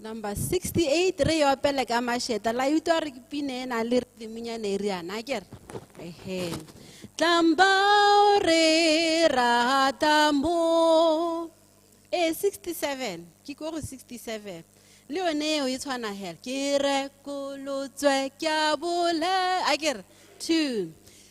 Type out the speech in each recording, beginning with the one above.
number 68 re yo apele ka masheta la utlwa re ke pine e na le redimunyane e riana a kere ehe tlambao re rata mo e 67 ke ko go 67 le yone eo e tshwana hela ke rekolotswe ke a bole a kere two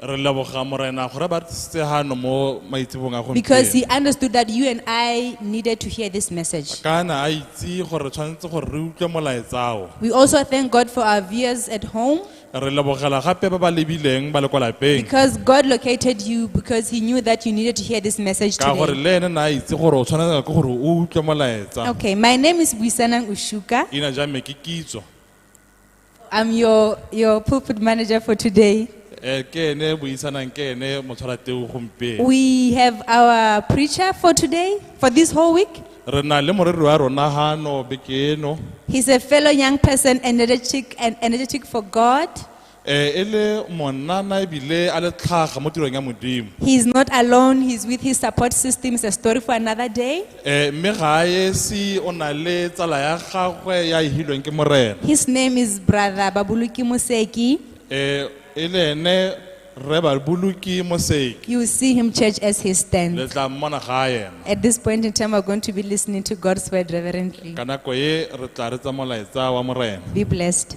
Re leboga Morena gore ba re tlisitse hano mo maitsebong a Because gompieno. he understood that you and I needed to hear this message. Kana a itse gore re tshwanetse gore re utlwe molaetsao. We also thank God for our viewers at home Re lebogela gape ba ba lebileng ba le kwa lapeng. because God located you because he knew that you needed to hear this message Ka gore today. le ene na itse gore o tshwanetse ke gore o utlwe molaetsa. Okay, my name is Buisanang Ushuka. Ina ja me ke kitso. I'm your, your pulpit manager for today. Eh, ke ene buisanang ke ene motshwara teu gompieno We have our preacher for today, for this whole week. re na le moreri wa rona gano beke eno He's a fellow young person, energetic and energetic for God. Eh, e le monnana ebile a le tlhaga mo tirong ya modimo He's not alone, he's with his support system. It's a story for another day. Ee, mme ga a esi o na le tsala ya gagwe ya e hilweng ke Morena. His name is Brother Babuluki Moseki. Ee, e le ene Rre Babuluki Moseki. You will see him, church, as he Le stands. tla mmona ga a ema. At this point in time, we're going to be listening to God's word reverently. Ka nako e, re tla re tsa molaetsa wa Morena. Be blessed.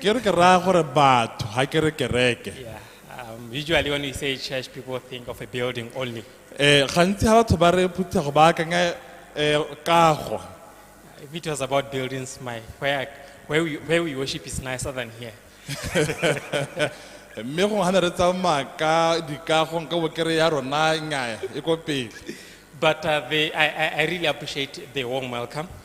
Ke re ke raya gore batho, ha ke re kereke. Yeah. Um, usually when we say church, people think of a building only. Eh, gantsi ha batho ba re phuthego ba akanya eh, kago. If it was about buildings, my where I, where we where we worship is nicer than here. Mme go hana re tsamaya ka dikago nka bo ke re ya rona nnyaya e ko pele. But uh, they, I, I, I really appreciate the warm welcome.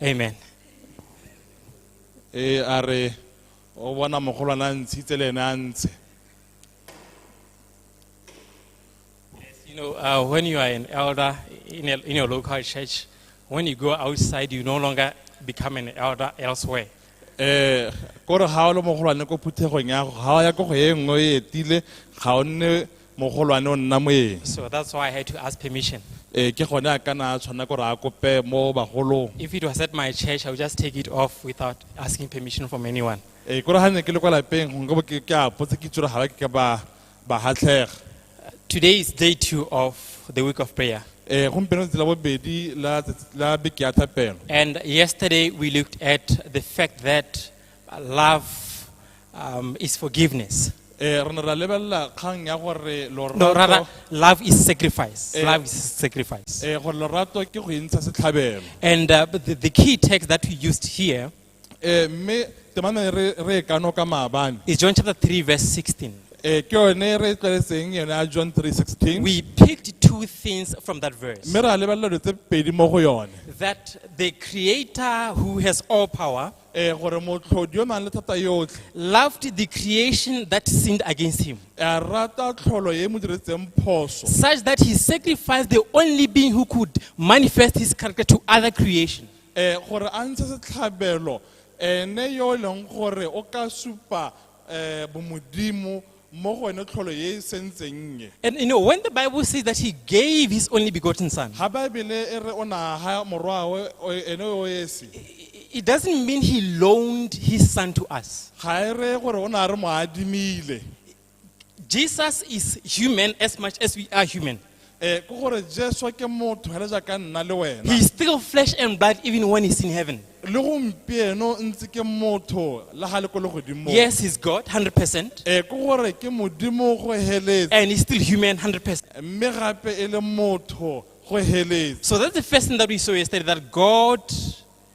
amen e a re o bona mogolwana a ntshitse le ene a ntshe You know, uh, when you are an elder in, a, in your local church, when you go outside, you no longer become an elder elsewhere. eh kore ga o le mogolwane ko phuthegong ya go ga o ya ko go e nngwe e etile ga o nne mogolwane o nna moeng So that's why I had to ask permission. ee ke gone a kana a tshwanela gore a kope mo bagolong If it was at my church, I would just take it off without asking permission from anyone. ee kore ga ne ke le kwa lapeng gongwe bo ke ke a potse ke tsore ga ba ke ka ba ba gatlhega Today is day two of the week of prayer. ee gompieno tsela bobedi la tsatsi- la beke ya thapelo And yesterday we looked at the fact that Uh, love um, is forgiveness. Eh, re ne ra lebelela kgang ya gore No, rather, lorato love is sacrifice. Eh. Love is sacrifice. eh, gore lorato ke go entsha setlhabelo And uh, but the, the key text that we used here Eh, mme temane re re e kano ka maabane is John chapter 3, verse 16. Eh, ke yone re e tlwaetseng yone ya john 316 We picked two things from that verse mme ra lebelela dilo tse pedi mo go yone that the creator who has all power eh, gore motlhodi yo nang le thata yotlhe loved the creation that sinned against him, a rata tlholo e e mo diretseng phoso such that he sacrificed the only being who could manifest his character to other creation. eh gore a ntshe setlhabelo ene yo e leng gore o ka supa eh bomodimo mo go wene tlholo ye e sentseng nnye And you know, when the Bible says that he gave his only begotten son, ga baebele e re o ne a ga morwawe o- ene o esi i- it doesn't mean he loaned his son to us. ga e reye gore o ne a re mo adimile Jesus is human as much as we are human. Eh, ke gore jesu ke motho fela jaaka nna le wena He's still flesh and blood even when he's in heaven. le gompieno ntse ke motho le ga le ko le godimo Yes, he's God, 100%. Eh, ke gore ke modimo go heletse And he's still human, 100%. mme gape e le motho go heletse So that's the first thing that we saw yesterday that God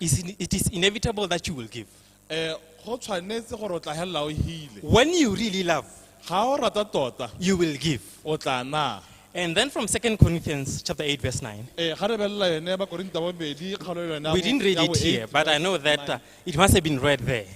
Is in- It is inevitable that you will give. um go tshwanetse gore o tla helela o hile When you really love, ga o rata tota you will give. o tla na And then from 2 Corinthians chapter 8, verse 9. ee ga re belela yone bakorinta bobedi kgaolo yone ya We bo- didn't read ya bo it here, eight, but I know that uh, it must have been read there.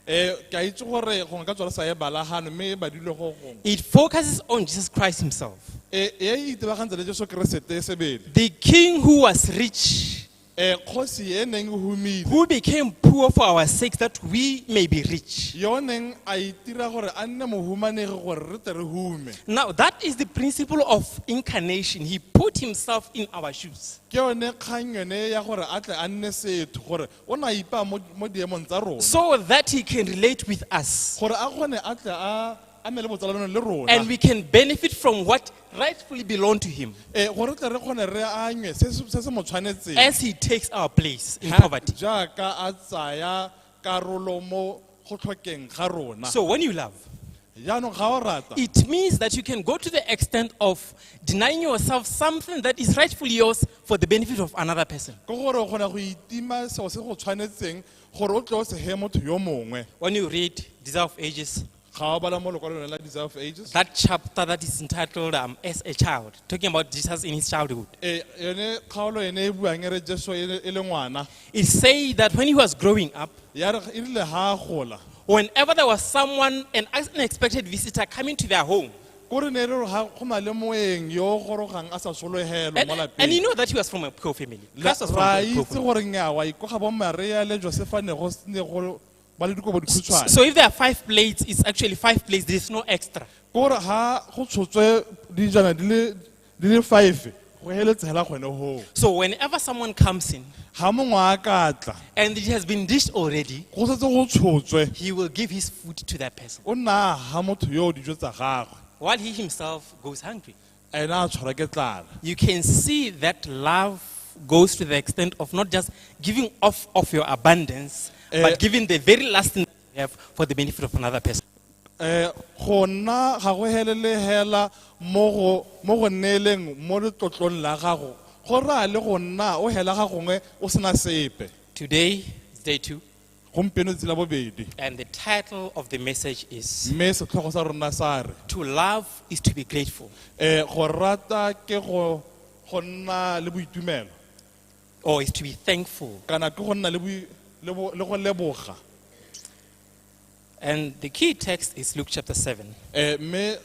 um ke a itse gore gongwe ka tswa re sa e bala gano mme e badilwe go gongwe It focuses on Jesus Christ himself, um e e itebagantse le jesu keresete sebele the king who was rich Eh, kgosi e neng e humile who became poor for our sake that we may be rich. yo o neng a itira gore a nne mohumanegi gore re tle re hume Now, that is the principle of incarnation. He put himself in our shoes. ke yone kgang yone ya gore a tle a nne setho gore o ne a ipaa mo mo diemong tsa rona so that he can relate with us. gore a kgone a tle a a nne le botsalano le rona and we can benefit from what rightfully belong to him Eh, gore tle re kgone re anywe se se se se mo tshwanetseng as he takes our place in Ha- poverty. jaaka a tsaya karolo mo go tlhokeng ga rona So when you love, jaanong ga o rata it means that you can go to the extent of denying yourself something that is rightfully yours for the benefit of another person. ke gore o kgona go itima seo se go tshwanetseng gore o tle o sege motho yo mongwe When you read Desire of Ages, Ga o bala mo lokwalong lone la Desire of Ages? That chapter that is entitled um, As a Child, talking about Jesus in his childhood. Eh, yone kgaolo ene e buang e re Jesu e le- e le ngwana. It said that when he was growing up, Ya re e rile ha a gola. whenever there was someone, an unexpected visitor coming to their home, Ko re ne re re ha go na le moeng yo o gorogang a sa sologelwe and, mo lapeng. and you know that he was from a poor family. La- Christ was from ra a poor itse family. gore nyawa ikoga bo maria le josefa ne go s- ne go ba le dikobo dikhutshwane So if there are five plates, it's actually five plates, there's no extra. kore ga go tshotswe dijana di le di le five go heletse hela gone goo So whenever someone comes in ga mongwe a ka tla and it has been dished already, go setse go tshotswe he will give his food to that person o nna ga motho yo o dijo tsa gagwe while he himself goes hungry. ena a tshwara ke tlala You can see that love goes to the extent of not just giving off of your abundance, Eh. but giving the very last thing you have for the benefit of another person. eh go nna ga go helele hela mo go mo go neeleng mo letlotlong la gago go raya le go nna o hela ga gongwe o sena sepe Today is day two. gompieno tsela bobedi And the title of the message is mme setlhogo sa rona sa re To Love is to Be Grateful. um go rata ke go go nna le boitumelo or is to be thankful. kana ke go nna le boi- le bo- le go leboga And the key text is Luke chapter 7, Eh, mme eh,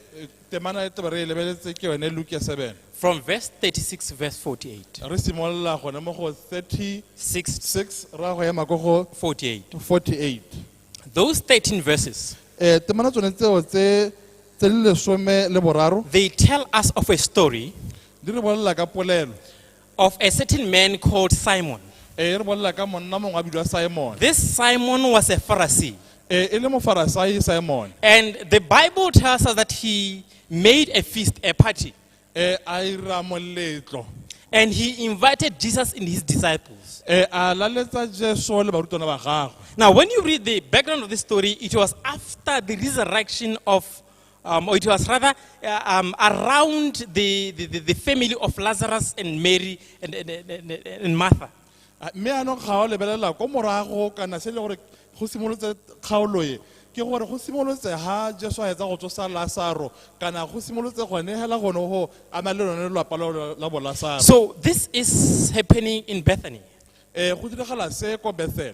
temana ya taba re e lebeletse ke yone luke ya 7 from verse 36 to verse 48. re simolola gone mo go 36 6 ra go ema ko go 48. 48 Those 13 verses, um temana tsone tseo tse tse le lesome le boraro they tell us of a story di re bolelela ka polelo of a certain man called Simon. ee re bolela ka monna mongwe a bidiwa simone This Simon was a Pharisee. ee e le mofarasai simone And the Bible tells us that he made a feast, a party, ee a ira moletlo and he invited Jesus and his disciples. ee a laletsa jesu le barutwana ba gagwe Now, when you read the background of this story, it was after the resurrection of Um, or it was rather uh, um, around the, the, the family of Lazarus and Mary and, and, and, and Martha. Ah, mme anong ga o lebelela ko morago kana se e le gore go simolotse kgaolo e ke gore go simolotse ha jesu a etsa go tsosa lasaro kana go simolotse gone hela gone go ama le lone lelapa la- la bolasaro So this is happening in Bethany. um go diragala se ko bethel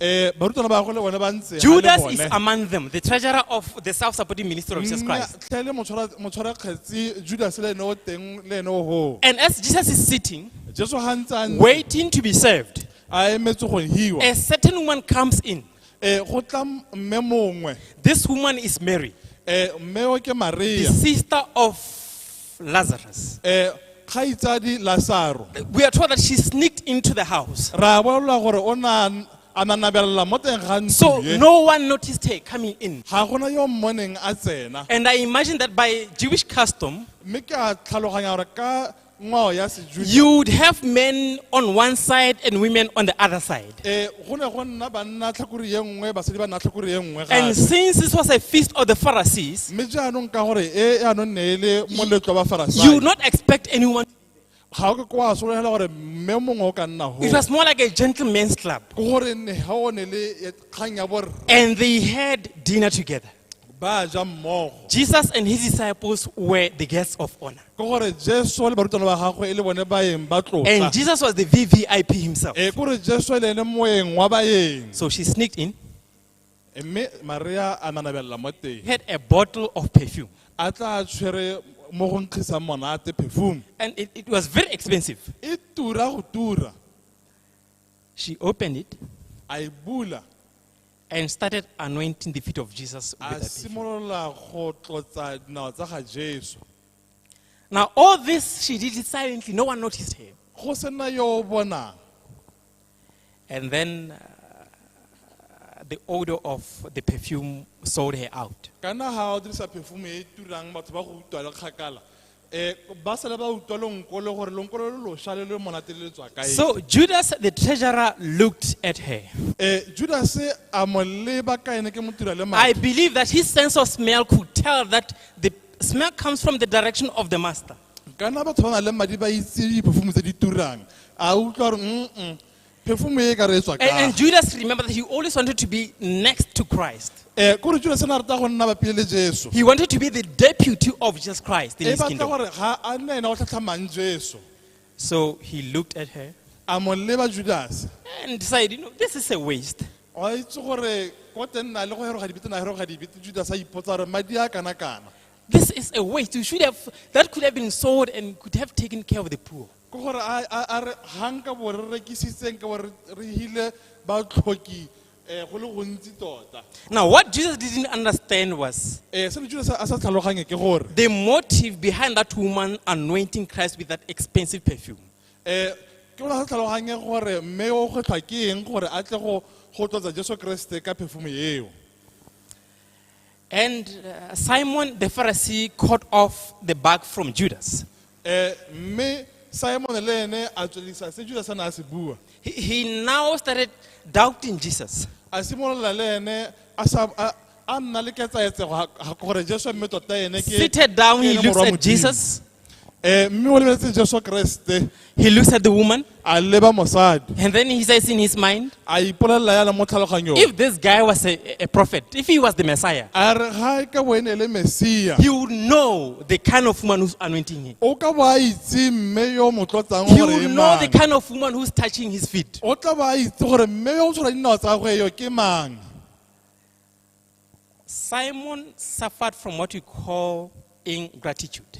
Eh, barutwana ba gagwe le bone ba ntse Judas is among them, the treasurer of the self supporting ministry of Jesus Christ. tlhe le motshwara kgetsi judas le ene o teng le ene o hoo And as Jesus is sitting, jesu ga ntse a ntse waiting to be served, a emetse go hiwa a certain woman comes in. Eh, go tla mme mongwe This woman is Mary, Eh, mme o ke the maria sister of Lazarus. um kgaitsadi lasaro We are told that she sneaked into the house. ra bolelwa gore o na a nanabelela mo teng ga So ntlo e. no one noticed her coming in. ga gona yo mmoneng a tsena And I imagine that by Jewish custom, mme ke a tlhaloganya gore ka ngwao ya sejuda you would have men on one side and women on the other side. Eh, go ne go nna banna tlhakore ye nngwe basadi ba nna tlhakore ye nngwe And gape since this was a feast of the Pharisees, mme jaanong ka gore e yaanong ne e le moletlo wa you would bafarasai not expect anyone. ga o ke ko wa solegela gore mme mongwe o ka nna It ho was more like a gentleman's club. ke gore ne ga o ne le e- kgang ya borre And they had dinner together. ba ja mmogo Jesus and his disciples were the guests of honor. ke gore jesu le barutwana ba gagwe e le bone baeng ba tlotla And Jesus was the VVIP himself. e kore jesu le ene moeng wa baeng So she sneaked in, mme maria a nanabelela mo teng had a bottle of perfume. a tla a tshwere mo go nkgisang monate perfume And it, it was very expensive. e tura go tura She opened it a e bula and started anointing the feet of Jesus. With a that perfume. simolola go tlotsa dinao tsa ga jesu Now, all this she did it silently, no one noticed her. go sena yo o bonang And then uh, the odor of the perfume sold her out. kana ga o dirisa perfume e e turang batho ba go utlwa le kgakala Eh, ba sale ba utlwa lonko le gore lonko lo lo losha le le monate le le tswa kae So Judas the treasurer looked at her. Eh, judase a mo leba ka ene ke motira le I madi believe that his sense of smell could tell that the smell comes from the direction of the master. kana batho ba na le madi ba itse diphofumo tse di turang a utlwa gore mm perfume e ka re e tswa And, and kae Judas, remember that he always wanted to be next to Christ. um kore judase ne a rata go nna bapele le jesu He wanted to be the deputy of Jesus Christ in e his batla kingdom. gore ga a nne ena o tlhatlhamang jesu So he looked at her a mo leba judase and decided, you know, this is a waste. o a itse gore ko teng na le go heroga dibete na heroga dibete judase a ipotsa gore madi a kana kana This is a waste. You should have, that could have been sold and could have taken care of the poor. ke gore a a- a re ga nka bo re rekisitseng ka bo re re hile batlhoki um go le gontsi tota Now, what Jesus didn't understand was um se mojuse a sa tlhaloganye ke gore the motive behind that woman anointing Christ with that expensive perfume. um ke bona sa tlhaloganye gore mme o kgwetlhwa ke eng gore a tle go go tlotsa jesu keresete ka perfume eo And uh, Simon the Pharisee cut off the bag from Judas. Eh, mme simone le ene a tswelisa se judas a ne a se bua He, he now started doubting Jesus. a simolola le ene a sa- a- a nna le ketsaetsego ga- ga gore jesu mme tota ene ke Seated down, ke he ene looks Morwa at Modimo. Jesus. Eh, mme o lebeletse jesu keresete He looks at the woman a leba mosadi and then he says in his mind, a ipolelela yana mo tlhaloganyong if this guy was a, a prophet, if he was the Messiah, a re ga e ka bo e ne e le mesia he would know the kind of woman who's anointing him. o ka bo a itse mme yo o mo tlotsang He gore would e know the mang kind of woman who's touching his feet. o tla bo a itse gore mme yo o tshwara dinao tsa gagwe yo ke mang Simon suffered from what we call ingratitude.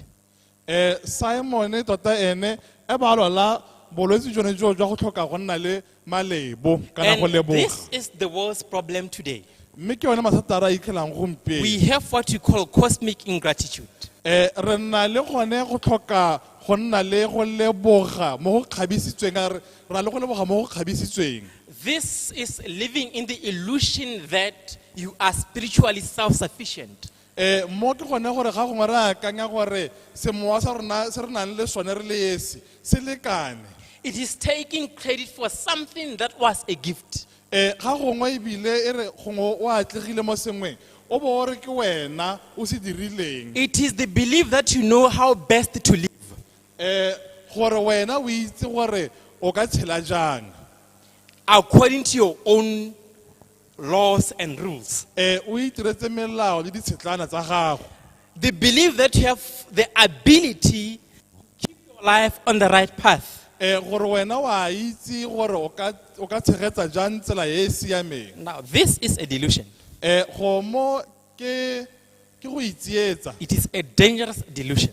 Eh, simon tota ene e ba lwala bolwetse jone joo jwa go tlhoka go nna le malebo kana go And leboga this is the world's problem today. mme ke yone mathata a re a ikgelang We gompieno have what we call cosmic ingratitude. um re nna le gone go tlhoka go nna le go leboga mo go kgabisitsweng a re ra le go leboga mo go kgabisitsweng This is living in the illusion that you are spiritually self sufficient. Eh, mo ke gone gore ga gongwe re akanya gore semowa sa rona se re nang le sone re le esi se lekane It is taking credit for something that was a gift. Eh, ga gongwe ebile e re gongwe o atlegile mo sengweng o bo o re ke wena o se dirileng It is the belief that you know how best to live. um gore wena o itse gore o ka tshela jang according to your own laws and rules. um o itiretse melao le ditshetlana tsa gago They believe that you have the ability to keep your life on the right path. um gore wena o a itse gore o ka- o ka tshegetsa jang tsela e e siameng Now, this is a delusion. um gomo ke ke go itsietsa It is a dangerous delusion.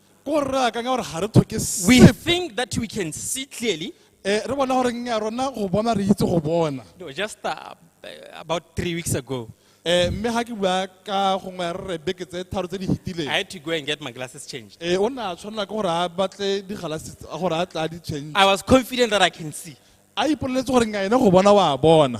ko gore re akanya gore ga re tlhoke we sepe think that we can see clearly Eh, re bona gore nnya rona go bona re itse go bona no, just uh, about three weeks ago Eh, mme ga ke bua ka gongwe ya re re beke tse tharo tse di i fetileng had to go and get my glasses changed Eh, o ne a tshwanela ke gore a batle digalasi tsa- gore a tla di change i was confident that i can see a ipoleletse gore nnya ene go bona wa bona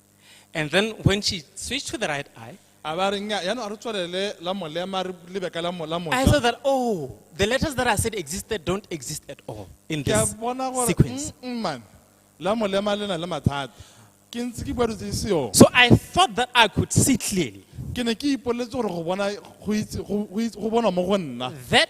And then when she switched to the right eye, a ba re nnyaa yaanong a re tswelele la molema re lebe ka la mo- la I moja saw that, oh, the letters that I said existed don't exist at all in ke a this bona gore sequence. "Mm, mm, man la molema le na le mathata ke ntse ke bua dilo tse di seong So I thought that I could see clearly ke ne ke ipoleletse gore go bona go itse- go- go itse- go bonwa mo go nna that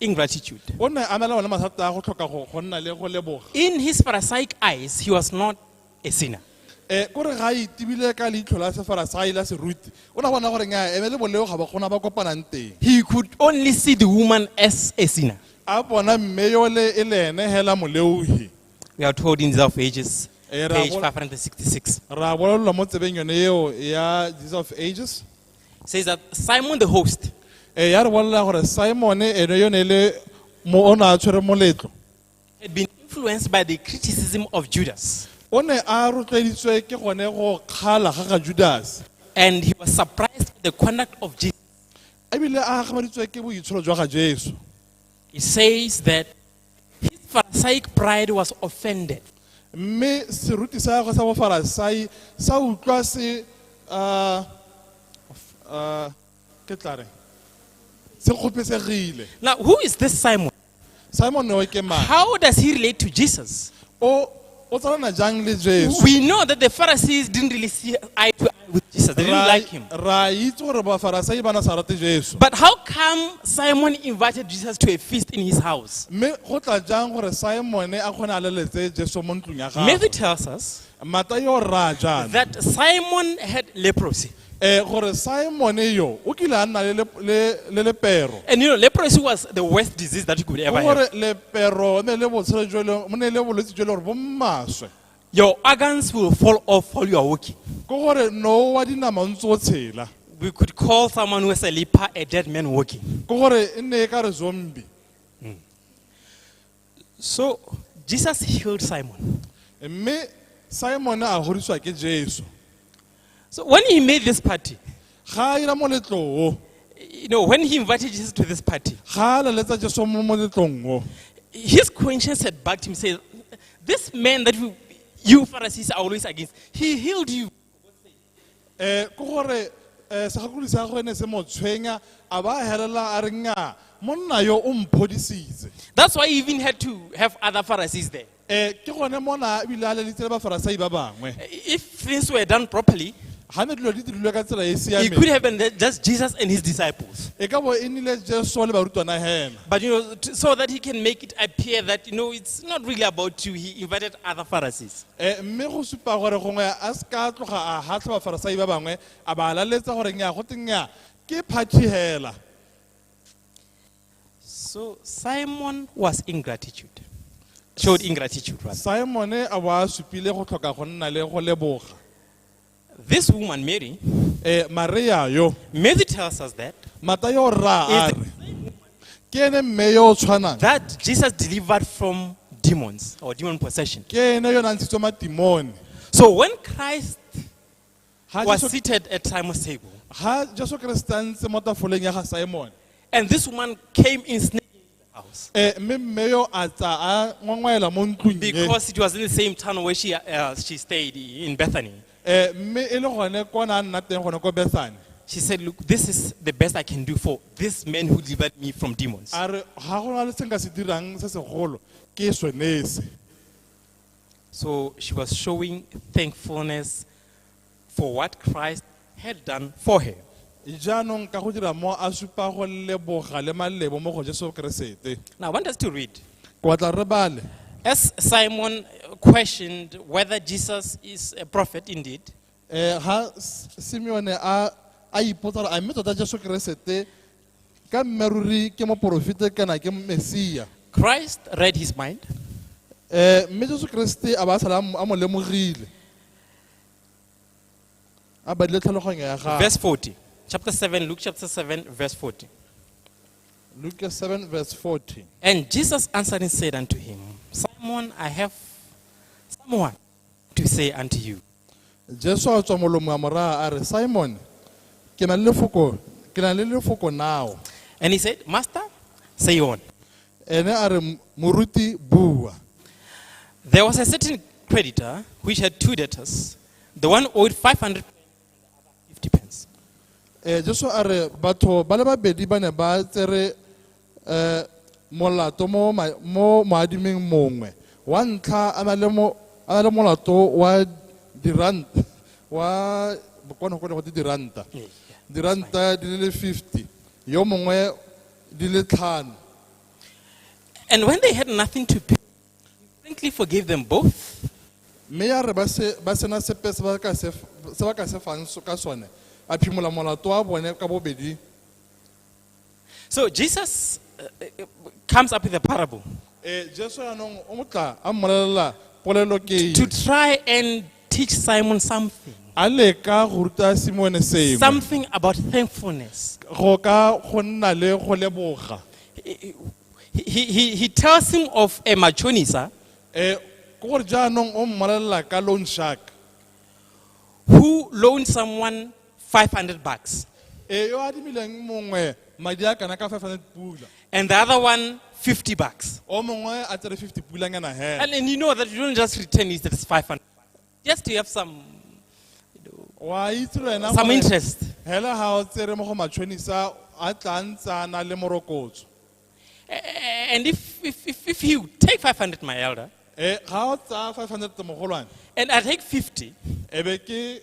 ingratitude. o ne a na le one mathata a go tlhoka go go nna le go leboga In his Pharisaic eyes, he was not a sinner. um kore ga a itibile ka leitlho la sefarasai la seruti o ne a bona gore nya eme le boleo ga ba gona ba kopanang teng He could only see the woman as a sinner. a bona mme yole e le ene hela moleohi We are told in Desire of Ages, Eh, ra page bona- 566. ra bolelelwa mo tsebeng yone eo ya jesus of ages says that Simon the host ee ya re bolelela gore simone ene yo ne e le mo o ne a tshwere moletlo had been influenced by the criticism of Judas. o ne a rotloeditswe ke gone go kgala ga ga judase And he was surprised at the conduct of Jesus. ebile a gakgamaditswe ke boitsholo jwa ga jesu He says that His Pharisaic pride was offended. mme seruti sa gagwe sa bofarasai sa utlwa se ah, ah, ke tla reng se kgopesegile Now, who is this Simon? simon o ke mang How does he relate to Jesus? o o tsalana jang le jesu We know that the Pharisees didn't really see eye to eye with Jesus. They didn't Ra- like him. ra itse gore bafarasai ba na sa rate jesu But how come Simon invited Jesus to a feast in his house? mme go tla jang gore simone a kgone a leletse jesu mo ntlong ya Matthew gagwe tells us mata yo raya jaana that Simon had leprosy. Eh, gore Simone yo o kile a nna le le- le- le lepero. And you know, leprosy was the worst disease that you could ever Ke have. gore lepero e ne le botshelo jo e leng- mo ne le bolwetse jo e le gore bo mmaswe. Your organs will fall off while you are walking. Ke gore no wa dinama o ntse o tshela. We could call someone who is a leper a dead man walking. Ke gore e ne e ka re zombie. So Jesus healed Simon. mme simone a godiswa ke jesu So when he made this party, ga a ira moletlo o you know, when he invited Jesus to this party, ga a leletsa jesu mo moletlong o his conscience had bugged him, saying, This man that you, you Pharisees are always against, he healed you. um ke gore um segakodi sa gagwe ne se mo tshwenya a ba a helela a re nnyaa monna yo o mphodisitse That's why he even had to have other Pharisees there. um ke gone mona ebile a lelitse le bafarasai ba bangwe If things were done properly, ga ne dilo di dirilwe ka tsela e e it siameng could have been that just Jesus and his disciples. e ka bo e nnile jesu le barutwana hena But you know, t- so that he can make it appear that you know it's not really about you, he invited other Pharisees. E, mme go supa gore gongwe a se ka tloga a hatlha bafarisai ba bangwe a ba laletsa gore nya go tenya ke phathi hela So Simon was ingratitude, showed ingratitude rather. simone a bo a supile go tlhoka go nna le go leboga This woman, Mary, eh, maria yo Mary tells us that, matayo o rraa a Is- re ke ene mme yo o tshwanang that Jesus delivered from demons or demon possession. ke ene yo o nang tshitswe matimone So when Christ Ga was Jesu- seated at Simon's table, ga jesu keresete a ntse mo tafoleng ya ga simone and this woman came in sneaking, house. Eh, mme mme yo a tsa a ngwangwaela mo ntlong e Because it was in the same town where she, uh, she stayed in Bethany. Eh, mme e le gone ko na a nna teng gone ko bethane She said, Look, this is the best I can do for this man who delivered me from demons. a re ga go na le se nka se dirang se segolo ke sone se So she was showing thankfulness for what Christ had done for her. jaanong ka go dira mo a supa go leboga le malebo mo go jesu keresete Now, I want us to read. ke batla re bale As Simon questioned whether Jesus is a prophet indeed, um ga simeone a a ipotsa gore a mme tota jesu keresete ka mmeruri ke moporofete kana ke mesia Christ read his mind um mme jesu keresete a ba a sala a mo- a mo lemogile a badile tlhaloganyo ya gago Verse 40. Chapter 7, Luke chapter 7, verse 40. luke 7 verse 40 And Jesus answering said unto him, Simon, I have someone to say unto you. jesu a tswa molomo wa moraa a re simon ke na le lefoko ke na le lefoko nao And he said, Master, say on. Ene a re, Moruti, bua. There was a certain creditor which had two debtors. The one owed 500 50 pence. Eh, Jesu a re batho ba le babedi ba ne ba tsere eh, molato mo ma- mo moadiming mongwe wa ntlha a na le mo- a na le molato wa diranta wa bokwana go ne go te diranta diranta di le le 50 yo mongwe di le tlhano. And when they had nothing to pay, he frankly forgave them both. Mme ya re ba se ba sena sepe se ba ka se se ba ka se fang so- ka sone, a phimola molato wa bone ka bobedi. So Jesus uh, uh, comes up with a parable Eh Jesu yaanong o motla a mmolelela polelo ke to try and Teach Simon something. a leka go ruta simone sengwe Something about thankfulness. go ka go nna le go leboga He, he, he, he tells him of a machonisa um ke gore jaanong o mmolelela ka loan shark who loaned someone 500 bucks. e yo adimileng mongwe madi a kana ka 500 pula And the other one, 50 bucks. o mongwe a tsere 50 pulanyana he And, and you know that you don't just return it, that is 500. Just to have some, wa itse le wena some gore interest. hela ga o tsere mo go matšhonisa a tla ntsana le morokotso A- a- And if, if, if, if you take 500, my elder, e ga o tsaya 500 mogolwane and I take 50, e be ke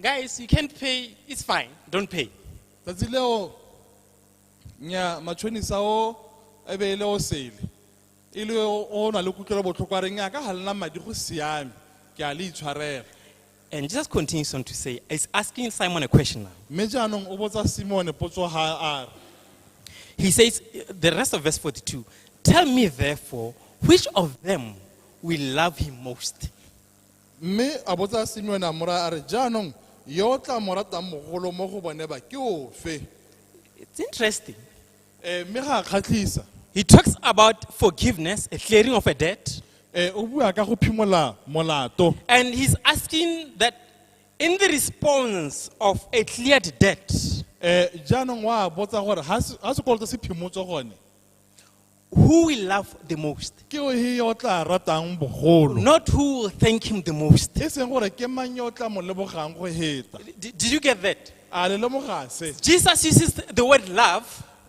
Guys, you can't pay. It's fine. Don't pay. tsatsi leo nya matšhonisa o e be e le o sele e le o o na le kutlwelo botlhoko a reng a ka ga lena madi go siame ke a le itshwarela And Jesus continues on to say, He's asking Simon a question now. mme jaanong o botsa simone potso ga a re He says, the rest of verse 42, Tell me therefore, which of them will love him most? Mme a botsa Simeone a mo raya a re, Jaanong yo o tla mo ratang mogolo mo go bone ba ke ofe? It's interesting. Eh, mme ga a kgatlhisa. He talks about forgiveness, a clearing of a debt, Eh, o bua ka go phimola molato. and he's asking that in the response of a cleared debt, Eh, jaanong wa botsa gore ha se- ha sekoloto se phimotswe gone who will love the most, ke he yo o tla ratang bogolo not who will thank him the most. e seng gore ke mang yo o tla mo lebogang go heta D- did you get that? a le lemoga se Jesus uses the word love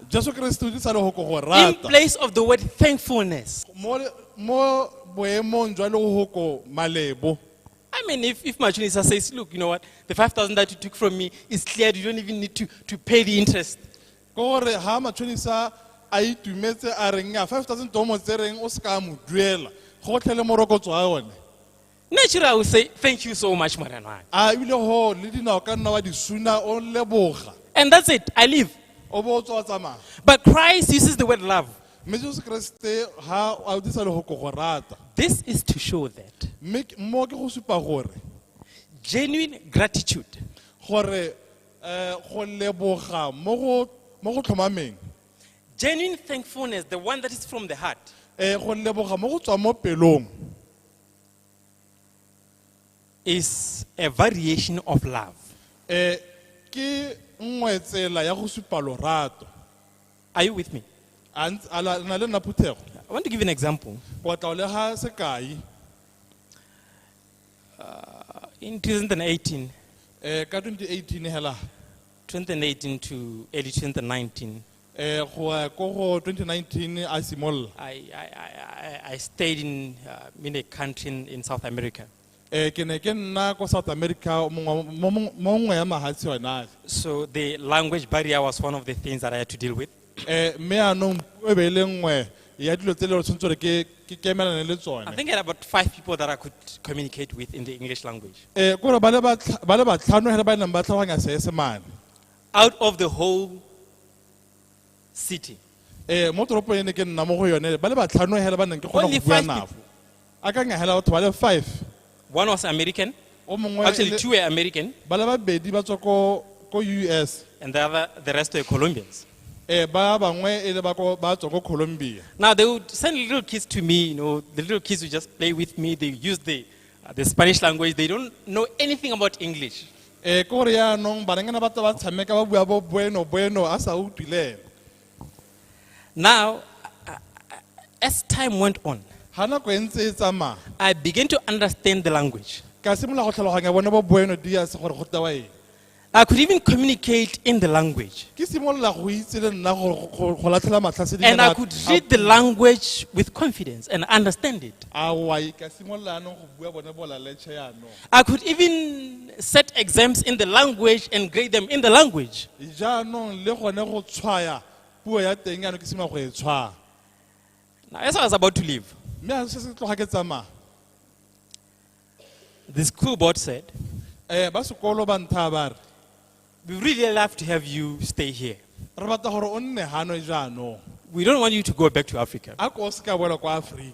jesu keresete o dirisa lego ko go in rata place of the word thankfulness. mo mo boemong jwa lego ko malebo I mean, if, if Machunisa says, look, you know what, the 5,000 that you took from me is cleared, you don't even need to, to pay the interest. ke gore ha matshonisa a itumetse a reng a 5000 domo tse reng o se ka mo duela go tlhele morokotso wa yone natural say thank you so much morenwana a ebile go le dinao ka nna wa di suna o leboga and that's it i leave o bo o tswa tsamaya but christ uses the word love mme jesu keresete ha a disa le go go rata this is to show that mme mo ke go supa gore genuine gratitude gore Uh, go leboga mo go mo go tlhomameng Genuine thankfulness, the one that is from the heart. Eh, go leboga mo go tswa mo pelong is a variation of love. Eh, ke nngwe tsela ya go supa lorato Are you with me? a ntse- a la- na le nna phuthego I want to give you an example. o batla o lega sekai Uh, in 2018, eh, ka 2018 hela 2018 to early 2019, eh, go ya ko go 2019 a simolola I, I, I, I- I stayed in, uh, in a country in, in South America. eh, ke ne ke nna ko south america mongwe wa- mo- mo- mo nngwe ya mahatshe yona So the language barrier was one of the things that I had to deal with. Eh, mme anong puo e be e le nngwe ya dilo tse le gore tshwanetse gore ke ke kemelane le I tsone think I had about five people that I could communicate with in the English language. Eh, ke gore ba le batlha- ba le batlhano fela ba e neng ba tlhaloganya seesemane Out of the whole city, Eh, mo toropong e ne ke nna mo go yone ba le batlhano fela ba neng ke kgona only go bua five, nafo peop- a ka ngahela batho ba le five One was American. o mongwe Actually, le- two were American, ba le babedi ba tswa ko ko us and the other, the rest were Colombians. um ba bangwe e le ba ko- ba tswa ko colombia Now they would send little kids to me. You know, the little kids would just play with me. They use the uh, the Spanish language. They don't know anything about English. um ke gore yaanong banengana ba tla ba tshameka ba bua bo bueno bueno a sa utlwileng Now, uh, uh, as time went on, ga nako e ntse e tsamaya I began to understand the language. ka simolola go tlhaloganya bone bo bueno dias gore go tewa eng I could even communicate in the language. ke simolola go itse le nna gore go- go go latlhela matlha se di And I kana- could read the language with confidence and understand it. Aowa, ka simolola jaanong go bua bone bolaletšhe jaanong I could even set exams in the language and grade them in the language. jaanong le gone go tshwaya puo ya teng yaanong ke simolola go e tshwaya Now, as I was about to leave, mme a se se tloga ke tsamaya the school board said, um ba sekolo ba nthaa ba re We really love to have you stay here. re batla gore o nne gano jaanong We don't want you to go back to Africa. a ko o se ka boela kwa aforika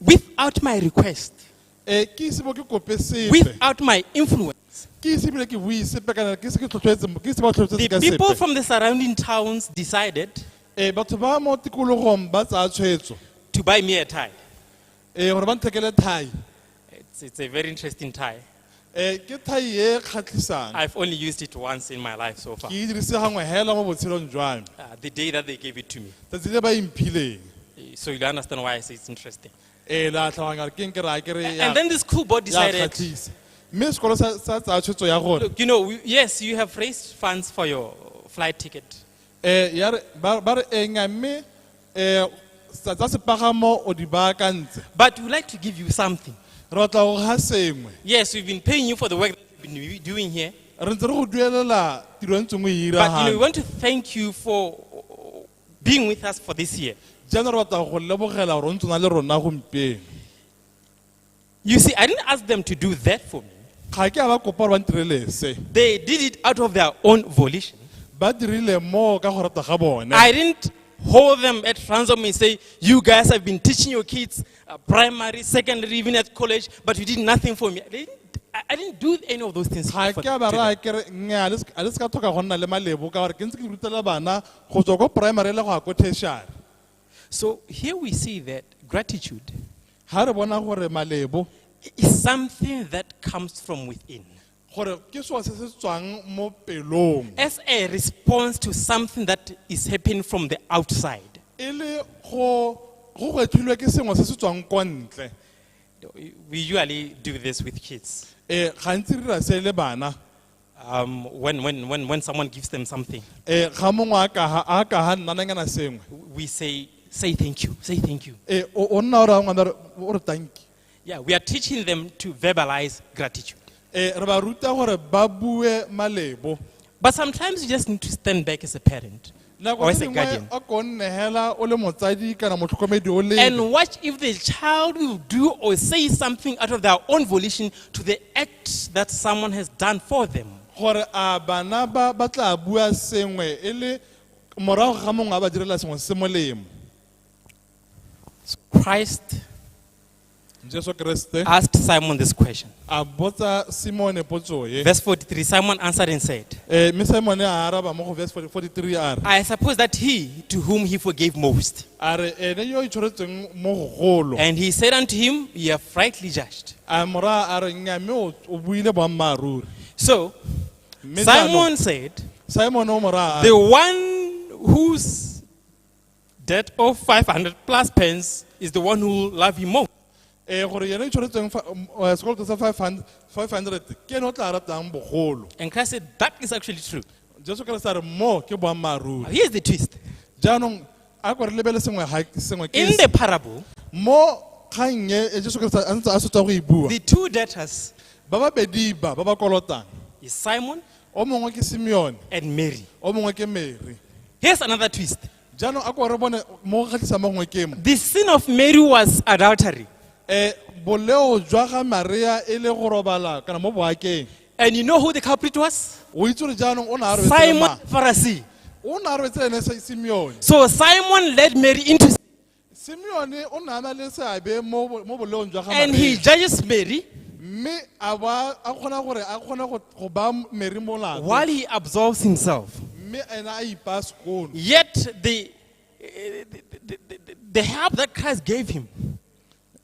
without my request, e ke ise bo ke kope sepe without my influence. ke ise ebile ke bue sepe kana ke ise ke tlhotlhoetse ke ise ba tlhotlhoetse The ka people sepe from the surrounding towns decided e batho ba mo tikologong ba tsaya tshwetso to buy me a tie. e gore ba nthekele thai It's, it's a very interesting tie. Eh, ke thai e e kgatlhisang I've only used it once in my life so far. ke e dirise gangwe hela mo botshelong jwa me Uh, the day that they gave it to me. tsatsi le ba imphileng Eh, So you'll understand why I say it's interesting. ee la tlhaloganya gore ke eng ke raya ke re ya- And then the school board ya decided, kgatlhisa mme sekolo sa sa tsaya tshwetso ya gore look, you know, we- yes, you have raised funds for your flight ticket. um ya re ba ba re eng a mme Eh, tsa tsa sepagamo o di baakantse. But we'd like to give you something. Re batla go ga sengwe. Yes, we've been paying you for the work that you've been doing here. Re ntse re go duelela tiro e ntseng o e dira But you know, we gana. want to thank you for uh, being with us for this year. Jaanong re batla go go lebogela gore o ntse o na le rona gompieno. You see, I didn't ask them to do that for me. ga ke a ba kopa gore ba ntirele se They did it out of their own volition. ba dirile moo ka go rata ga bone I didn't hold them at ransom and say, You guys have been teaching your kids uh, primary, secondary, even at college, but you did nothing for me. They didn't, I, I didn't do any of those things. ga for- ke a ba to them. raya kere nnyaa a le se- a le se ka tlhoka go nna le malebo ka gore ke ntse ke rutela bana go tswa ko primary le go ya ko tertiary So here we see that gratitude ha re bona gore malebo is something that comes from within. gore ke seo se se tswang mo pelong As a response to something that is happening from the outside. e le go go gwetlhilwe ke sengwe se se tswang kwa ntle We usually do this with kids. um gantsi re dira se le bana um, when, when, when, when someone gives them something, e ga mongwe a kaga a kaga nnananyana sengwe we say, say thank you, say thank you. e o o nna o raya ngwana re- o re tanki Yeah, we are teaching them to verbalize gratitude. e re ba ruta gore ba bue malebo But sometimes you just need to stand back as a parent. nako or as tse a dingwe guardian. o ko nnegela o le motsadi kana motlhokomedi o lele And watch if the child will do or say something out of their own volition to the act that someone has done for them. gore a bana ba ba tla bua sengwe e le morago ga mongwe a ba direla sengwe se molemo Christ Jesu Kriste asked Simon this question. a botsa Simone potso e. Verse 43 Simon answered and said, Eh, Mme Simone a araba mo go verse 40 43 a re I suppose that he to whom he forgave most. a re ene yo e tshwaretsweng mo go golo. And he said unto him, You have rightly judged. A mora a re nya mme o o buile boammaaruri. So Mme Simon jaanong, said, Simone o mora a The re one whose That of 500 plus pence is the one who will love you more. eh gore yena o tshwanetseng fa- um, eh, sekoloto sa 500 500 ke ene o tla ratang bogolo And Christ said, That is actually true. jesu kriste a re mo ke boammaaruri Now, here's the twist. jaanong a ko re lebele sengwe ha- sengwe ke In se. the parable, mo kgang e e jesu kriste a ntse a setswa go e bua the two debtors ba babedi ba ba ba kolotang is Simon o mongwe ke simeone and Mary. o mongwe ke mere Here's another twist. jaanong a ko re bone mo go kgatlhisa mo gongwe ke mo The sin of Mary was adultery. um boleo jwa ga maria e le go robala kana mo boakeng And you know who the culprit was? o itse gore jaanong o ne a robetse le Simon mang? Pharisee. o ne a robetse le ene Si- simeone So Simon led Mary into sin. simeone o ne a na le seabe mo bo- mo boleong jwa ga and he Mary. judges Mary mme a ba a kgona gore a kgone go- go ba meri molato while he absolves himself. mme ene a ipaa sekono Yet the, eh, the, the, the, the help that Christ gave him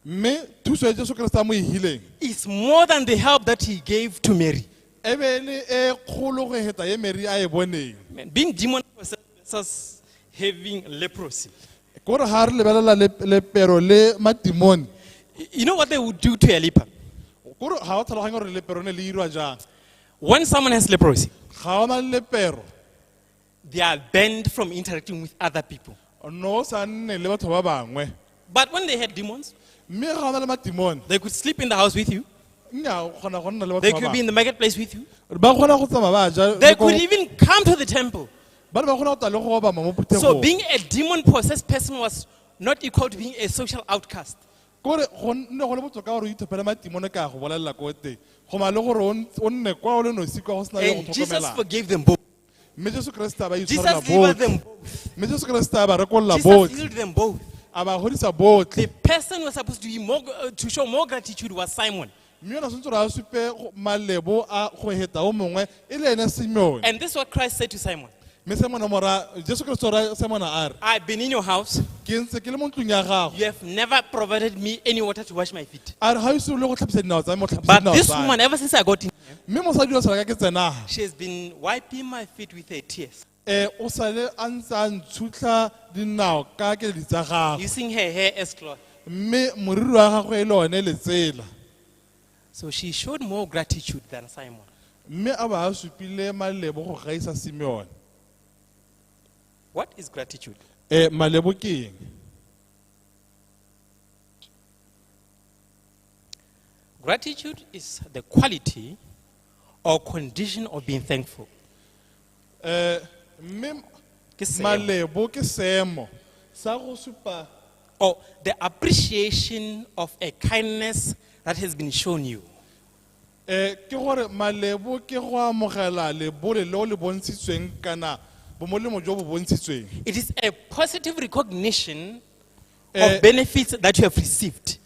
mme thuso ya jesu keresete a mo e hileng is more than the help that he gave to Mary. e be e le e kgolo go heta e meri a e boneng Man, being demon possessed versus having leprosy. Kore ha re lebelela lep- lepero le matimone, Y- You know what they would do to a leper? kore ha o tlhaloganye gore lepero ne le irwa jang. When someone has leprosy, Ga o na le lepero, they are banned from interacting with other people. o ne o sa nne le batho ba bangwe. But when they had demons, Mme ga o na le matimone, they could sleep in the house with you. nya o kgona go nna le They batho ba could be in bangwe. the marketplace with you. Ba kgona go tsamaya ba ja They le ko- could even come to the temple. ba ne ba kgona go tla le go obama mo phuthegong So being a demon possessed person was not equal to being a social outcast. kore go nne go le botoka gore o ithopele matimone ka go bolelela ko teng go ma le gore o n- o nne kwa o le nosi kwa go sena yo go And Jesus tlhokomelang forgave them both. mme jesu keresete a ba itshwarela Jesus delivered them botlhe both. mme jesu keresete a ba rekolola Jesus botlhe healed them both. a ba godisa botlhe The person who was supposed to, be more, uh, to show more gratitude was Simon. mme yona tshwanetse gore a supe go- malebo a go heta o mongwe e le ene simeone And this is what Christ said to Simon mme simone mora jesu kriste ora simone a re I've been in your house. ke ntse ke le mo ntlong ya gago You have never provided me any water to wash my feet. a re ga o ise o le go tlhapisa dinao tsa me o tlhapisa But dinao this tsa me. woman, ever since I got in here, mme mosadi yo tshwana ka ke tsenaga she has been wiping my feet with her tears. E o sale a ntse a ntshutlha dinao ka keledi tsa gagwe. using her hair as cloth. Mme moriri wa gagwe e le one letsela. So she showed more gratitude than Simon. Mme a ba a supile malebo go gaisa Simeone. What is gratitude? E malebo ke eng? Gratitude is the quality or condition of being thankful. Eh, mme Ke seemo. malebo ke seemo sa go supa or the appreciation of a kindness that has been shown you. Eh, ke gore malebo ke go amogela lebole le o le bontshitsweng kana bomolemo jo bo bontshitsweng It is a positive recognition Eh. of benefits that you have received.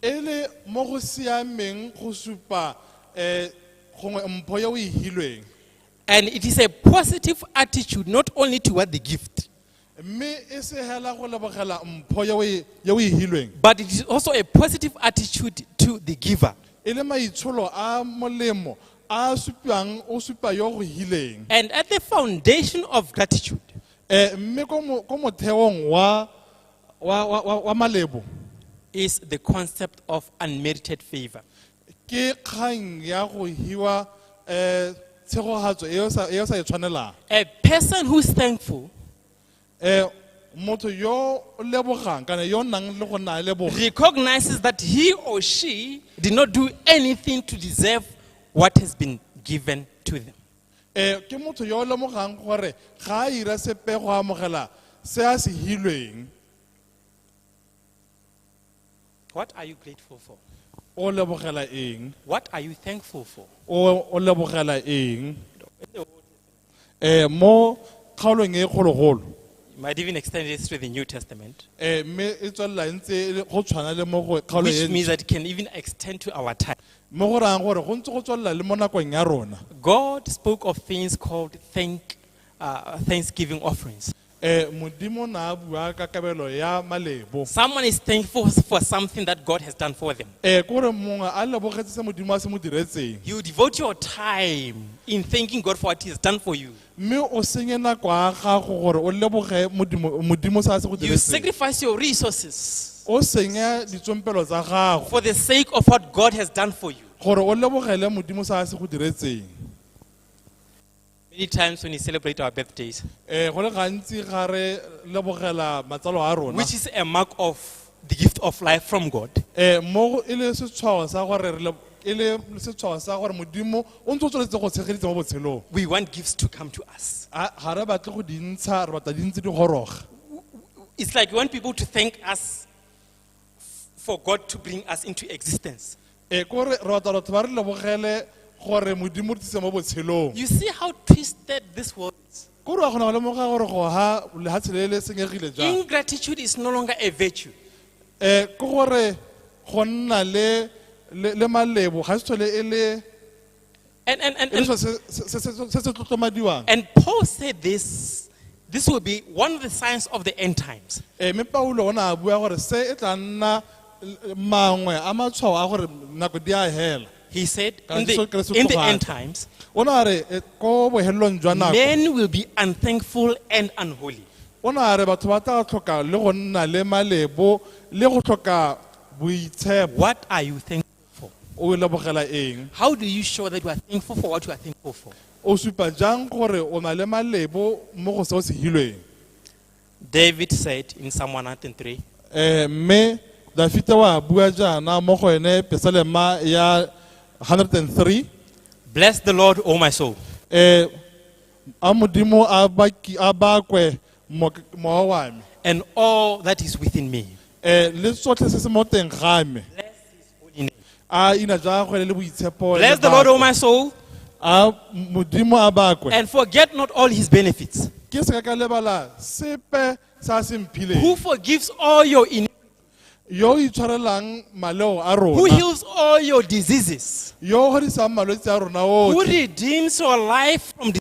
e le mo go siameng go supa um gongwe mpho ya o e hilweng And it is a positive attitude not only toward the gift, mme e se hela go lebogela mpho ye o e- ye o e hilweng but it is also a positive attitude to the giver. e le maitsholo a molemo a supiwang o supa yo o go hileng And at the foundation of gratitude Eh, mme ko mo- ko motheong wa wa- wa- wa- wa malebo is the concept of unmerited favor. ke kgang ya go hiwa um tshegogatso e o sa- e o sa e tshwanelang A person who's thankful um motho yo o lebogang kana yo o nang le go nna a leboga recognizes that he or she did not do anything to deserve what has been given to them. um ke motho yo o lemogang gore ga a ira sepe go amogela se a se hilweng What are you grateful for? o lebogela eng What are you thankful for? o o lebogela eng eh mo kgaolong e kgologolo You might even extend this to the New Testament, eh mme e tswelela e ntse e le- go tshwana le mo go kgaolo which e means ntšha. that it can even extend to our time. mo go rayang gore go ntse go tswelela le mo nakong ya rona God spoke of things called thank, uh, thanksgiving offerings. Eh, Modimo na a bua ka kabelo ya malebo. Someone is thankful for something that God has done for them. Eh, kore mongwe a lebogetse se Modimo a se mo diretseng. You devote your time in thanking God for what He has done for you. Mme o senye nako ya gago gore o leboge Modimo Modimo se a se go You diretseng. sacrifice your resources O senya ditsompelo tsa gago for the sake of what God has done for you. gore o lebogele Modimo se a se go diretseng. Many times when we celebrate our birthdays, eh go le gantsi ga re lebogela matsalo a rona which is a mark of the gift of life from God, eh mo e le setshwao sa gore re le- e le setshwao sa gore modimo o ntse o tsweletse go tshegeditse mo botshelong we want gifts to come to us. A- ga re batle go di ntsha re batla di ntse di goroga It's like we want people to thank us f- for God to bring us into existence. e kore re batla batho ba re lebogele gore modimo re tlise mo botshelong You see how twisted this world is. kore wa kgona go lemoga gore go ha lehatshe le le senyegile jang Ingratitude is no longer a virtue. um ke gore go nna le le le malebo ga se tlhole e le And, and, and, E le and, selo se- se- se- se- se se tlotlomadiwang and Paul said this this will be one of the signs of the end times. Eh, mme paulo o ne a bua gore se e tla nna l- mangwe a matshwao a gore nako di a hela He said, Ka in Jesu the, Kriste in the tloga end tla. times, o ne a re eh, ko bohelelong jwa nako men will be unthankful and unholy. o ne a re batho ba tla tlhoka le go nna le malebo le go tlhoka boitshepo What are you thankful for? o e lebogela eng How do you show that you are thankful for what you are thankful for? o supa jang gore o na le malebo mo go se o se hilweng David said in Psalm 103, um mme dafita wa bua jaana mo go ene pesalema ya 103 Bless the Lord, O my soul, um a modimo a baki- a bakwe mowa wa me and all that is within me. eh, le tsotlhe se se mo teng ga me a ina jwa gagwe le le boitshepo le Bless the Lord, O bakwe. my soul, a modimo a bakwe and forget not all his benefits, ke se ka ka lebala sepe sa a se who mphileng forgives all your iniquities, yo o itshwarelang maleo a who rona heals all your diseases, yo o godisang malwetse a rona who otlhe redeems your life from destruction.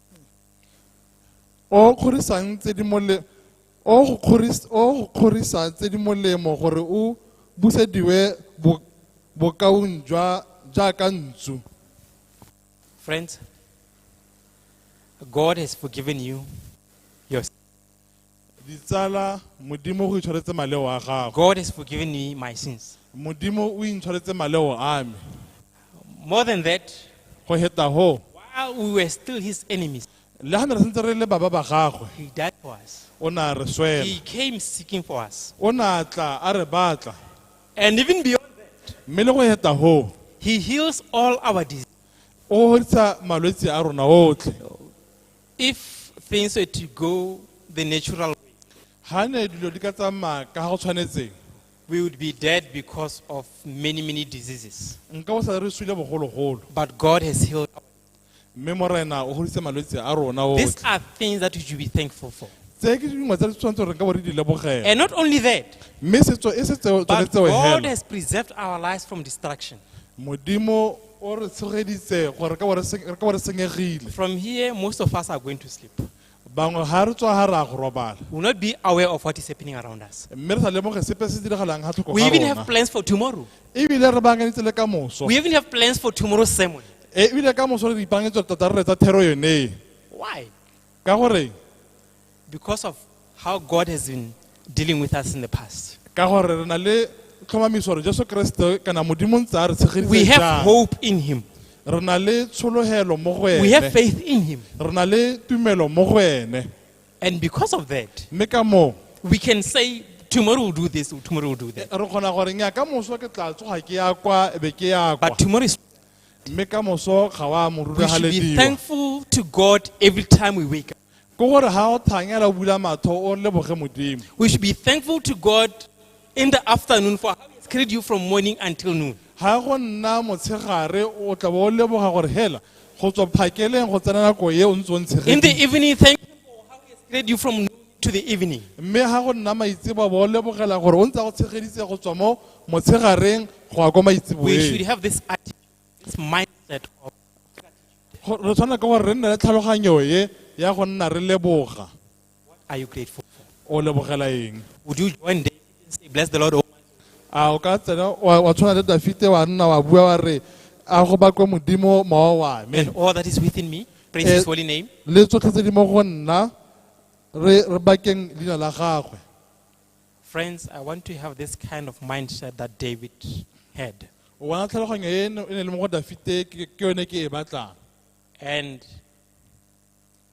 o o kgorisang tse di mole o o go kgoris- o o go kgorisa tse di molemo gore o busediwe bo- bokaong jwa jaaka ntsu Friends, God has forgiven you your Ditsala, Modimo go itshwaretse maleo a gago. God has forgiven me my sins. Modimo o intshwaretse maleo a me. More than that, Go heta ho, while we were still his enemies, le ha ne re sentse re le baba ba gagwe, he died for us. o ne a re swela. He came seeking for us. O ne a tla a re batla. And even beyond that, Mme le go heta ho, he heals all our diseases. o godisa malwetse a rona otlhe. If things were to go the natural way, ha ne dilo di ka tsamaya ka ha go tshwanetseng we would be dead because of many, many diseases. nka bo sa re swile bogologolo But God has healed. our- mme morena o goditse malwetse a rona otlhe. These are things that we should be thankful for. tse ke dingwe tse re tshwanetse gore re ka bo re di lebogela And not only that, mme setso e se tseo- tsone but tseo God hela has preserved our lives from destruction. modimo O re tshogeditse gore ka bo re se- re ka bo re senyegile. From here, most of us are going to sleep. We Bangwe ga re tswa ga re a go robala. will not be aware of what is happening around us. Mme re sa lemoge sepe se diragalang ga tlhoko We ga even have rona. plans for tomorrow. Ebile re bankanyetse le ka moso. We even have plans for tomorrow's sermon. E, Ebile ka moso re ipankanyetse tota re retsa thero yone. Why? Ka gore because of how God has been dealing with us in the past. ka gore re na le tlhomamiso gore jesu keresete kana modimo ntse a re We tshegeditse have jang hope in Him, re na le tshologelo mo go we have ene faith in Him. re na le tumelo mo go ene And because of that, mme ka moo we can say, Tomorrow we'll do this, tomorrow we'll do that. re kgona gore nya ka moso ke tla tsoga ke ya kwa e be ke ya kwa But tomorrow is. mme ka moso ga wa moruri We ga should be lediwa thankful to God every time we wake up. Ke gore ha o thanyela o bula matho o leboge Modimo. We should be thankful to God in the afternoon for how He's carried you from morning until noon. Ha go nna motshegare o tla bo o leboga gore hela go tswa phakeleng go tsena nako e o ntse o In the ntshegetse. evening, thank you for how He has carried you from noon to the evening. Mme ha go nna maitseboa bo o lebogela gore o ntse a go tshegeditse go tswa mo motshegareng go ya kwa We should maitseboeng. have this attitude, this mindset of Go- re tshwana ka gore re nne le tlhaloganyo e ya go nna re leboga What are you grateful for? o lebogela eng Would you join David and say, Bless the Lord, O my a o ka tsena wa wa tshwana le dafite wa nna wa bua wa re a go bakwe modimo mowa wa me and all that is within me? Praise Eh, his holy name. le tsotlhe tse di mo go nna re re bakeng leina la gagwe Friends, I want to have this kind of mindset that David had. o bona tlhaloganyo e e ne e ne e le mo go dafite ke ke yone ke e batlang And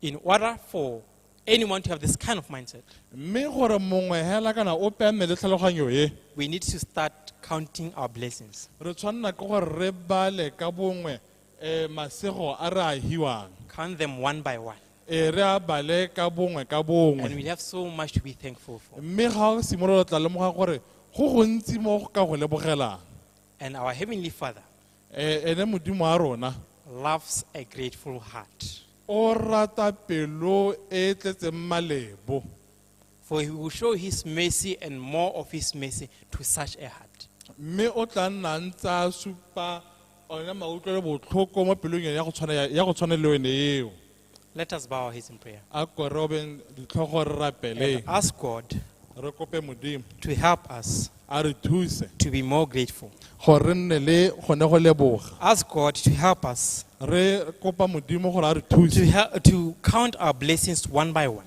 in order for anyone to have this kind of mindset, mme gore mongwe hela kana ope a nne le tlhaloganyo e we need to start counting our blessings, re tshwanela ke gore re bale ka bongwe um masego a re a hiwang count them one by one. e re a bale ka bongwe ka And bongwe we have so much to be thankful for. mme ga o simolola o tla lemoga gore go gontsi mo go ka go lebogelang And our Heavenly Father Eh, ene modimo wa rona loves a grateful heart. o rata pelo e e tletseng malebo For he will show his mercy and more of his mercy to such a heart. mme o tla nna a ntse a supa one mautlwelo botlhoko mo pelong ya go tshwana- ya- ya go tshwana le yone eo Let us bow our heads in prayer. a ko re obeng ditlhogo re rapeleng And ask God re kope modimo to help us a re thuse to be more grateful. gore re nne le gone go leboga Ask God to help us re kopa modimo gore a re to, thuse hel- to count our blessings one by one.